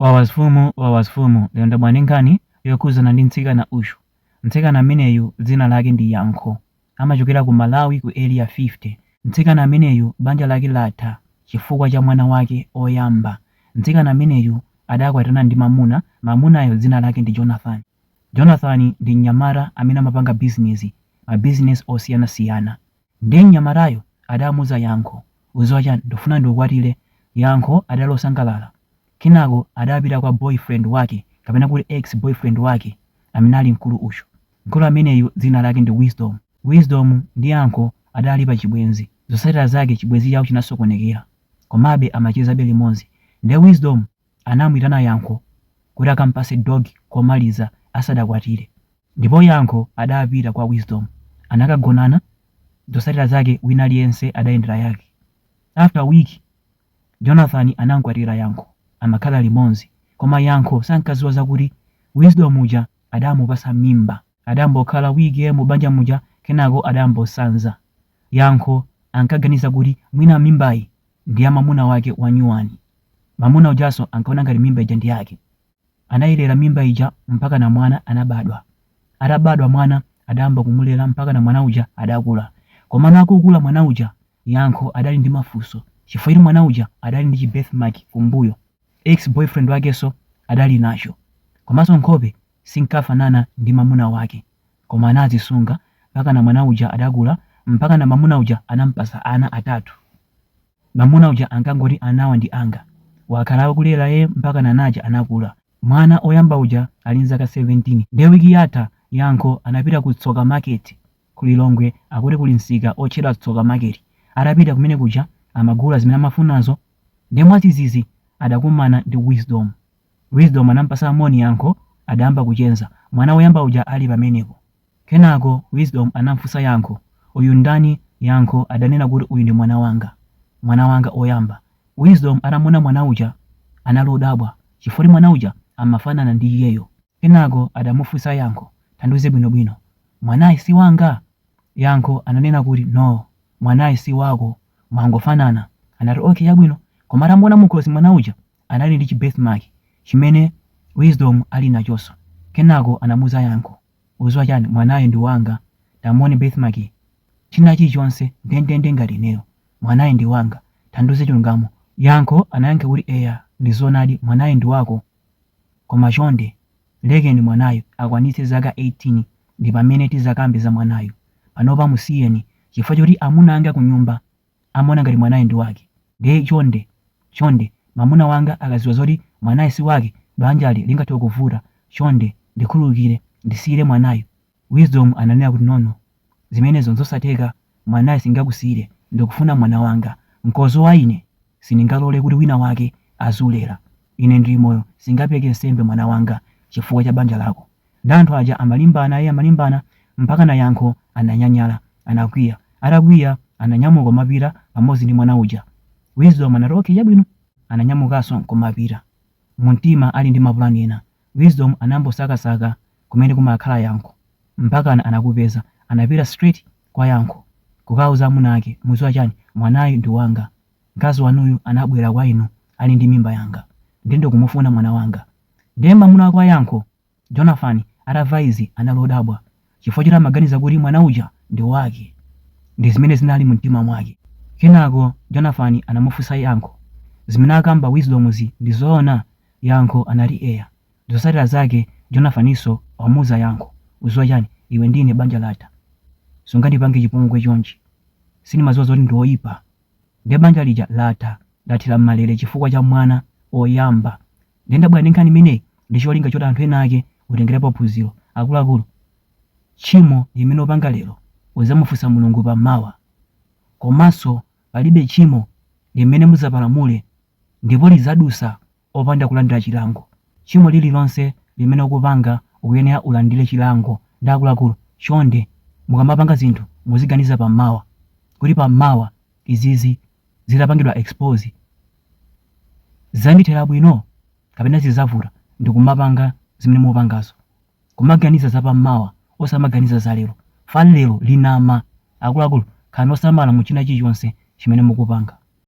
Wawa zifumu wawa zifumu lero ndabwera ndi nkhani yokhuzana ndi mtsikana uyu mtsikana ameneyu dzina lake ndi yankho amachokera ku malawi ku area 50 mtsikana ameneyu banja lake latha chifukwa cha mwana wake oyamba mtsikana ameneyu adakwatirana ndi mamuna mamunayo dzina lake ndi jonathan jonathan ndi mnyamata amene amapanga bizinezi mabizinesi osiyanasiyana Ndiye mnyamatayo adamuuza Yankho, Udziwa chani, ndikufuna ndikukwatire. Yankho adali osangalala. Kenako adapita kwa boy friend wake kapena kuti ex boy friend wake amene ali mkulu uyu. Mkulu ameneyu dzina lake ndi Wisdom. Wisdom ndi Yankho adali pa chibwenzi. Zotsatira zake chibwenzi chawo chinasokonekera. Komabe amachezabe limodzi. Ndiye Wisdom anamuitana Yankho kuti akampase dog komaliza asadakwatire. Ndipo Yankho adapita kwa Wisdom anakagonana zosatira zake wina aliyense adayendera yake. After week Jonathan anamkwatira Yankho amakhala limozi koma Yankho sankaziwa zakuti Wisdom uja adamupasa mimba. Adambokhala week mu banja muja kenako adambosanza. Yankho ankaganiza kuti mwina mimbayi ndi ya mamuna wake wanyuwani. Mamuna ujaso ankaona ngati mimba ija ndi yake. Anayilera mimba ija mpaka na mwana anabadwa. Atabadwa mwana adayamba kumulera mpaka na mwana uja adakula. Komano akukula mwana uja, Yankho adali ndi mafunso chifukwa choti mwana uja adali ndi chi birthmark kumbuyo. Ex boyfriend wakenso adali nacho. Komanso nkhope sinkafanana ndi mamuna wake koma anazisunga mpakana mwana uja adakula mpakana mamuna uja anamupasa ana atatu mamuna uja ankangoti anawa ndi anga wakhala akulera iyeyo mpakana ana aja anakula mwana oyamba uja ali ndi zaka 17 nde wiki yatha yankho anapita ku tsoka market ku lilongwe akuti kuli msika otchedwa tsoka market atapita kumenekuja amagula zimene amafunazo nde mwazizizi adakumana ndi wisdom Wisdom anampasa moni yankho adayamba kuchenza mwana woyamba uja ali pamenepo. Kenako Wisdom anamfunsa yankho uyu ndani yankho adanena kuti uyu ndi mwana wanga mwana wanga oyamba. Wisdom atamuona mwana uja anali odabwa chifukwa kuti mwana uja amafanana ndi iyeyo. Kenako adamufusa yankho tandiuze bwino bwino mwanayi siwanga? Yankho ananena kuti no mwanayi siwako mwangofanana. Anati okay chabwino koma atamuona mukhosi mwana uja anali ndi chi birthmark chimene Wisdom ali nachoso kenako anamuza yankho uziwa chani mwanayi ndi wanga tamuone birthmark yi china chili chonse ndendende ngati ineyo mwanayi ndi wanga tandiuze chilungamo yankho anayankha kuti eya ndi zoonadi mwanayi ndi wako koma chonde lekeni mwanayu akwanitse zaka 18 ndipamene tizakambe za mwanayu panopa musiyeni chifukwa choti amuna anga kunyumba amaona ngati mwanayo ndi wake ndiye chonde chonde mamuna wanga akaziwa zoti mwanayi si wake banjali lingathe kuvuta chonde ndikhululukire ndisiyire mwanayu Wisdom ananena kuti no no zimenezo nzosatheka mwanayi singakusiyire ndikufuna mwana wanga nkozo wa ine sindingalore kuti wina wake azilera ine ndili moyo singapeleke nsembe mwana wanga chifukwa cha banja lako Nde anthu aja amalimbana ee amalimbana mpakana Yankho ananyanyala, anakwiya. Atakwiya ananyamuka kumapita pamodzi ndi mwana uja. Wisdom anati okay chabwino. Ananyamukanso nkumapita. Mumtima ali ndi mapulani ena. Wisdom anayamba kusakasaka kumene kumakhala Yankho. Mpakana anakupeza. Anapita straight kwa Yankho. Kukauza amuna ake, mudziwa chani? Mwanayu ndi wanga. Mkazi wanuyu anabwera kwa inu ali ndi mimba yanga. Nde ndikumufuna mwana wanga. Ndiye mamuna wake wa Yankho, Jonathan, atamva izi anali odabwa chifukwa choti amaganiza kuti mwana uja ndi wake ndi zimene zinali mu mtima mwake. Kenako Jonathan anamufunsa Yankho, Zimene akamba Wisdomzi ndi zoona? Yankho anati eya. Zotsatira zake Jonathaninso wamuuza Yankho, Udziwa chani, iwe ndi ine banja latha. Sungandipange chipongwe chonchi. Sindimadziwa zoti ndi oipa Nde banja lija latha, lathera mmalele chifukwa cha mwana oyamba. Nde ndabwera ndi nkhani imeneyi ndi cholinga choti anthu enaake utengerepo phunziro. Akuluakulu, tchimo limene upanga lero uzamufunsa Mulungu pa mawa. Komanso palibe tchimo limene muzapalamule ndipo lizadusa opanda kulandira chilango. Tchimo lililonse limene ukupanga ukuyenera ulandire chilango. Nde akuluakulu, chonde mukamapanga zinthu muziganiza pa mawa kuti pa mawa izizi zitapangidwa expose zizandithera bwino kapena zizavuta ndikumapanga zimene mukupangazo. Kumaganiza za pa mawa osamaganiza za lero. Fan lero linama. Akuluakulu khalani osamala mu china chilichonse chimene mukupanga.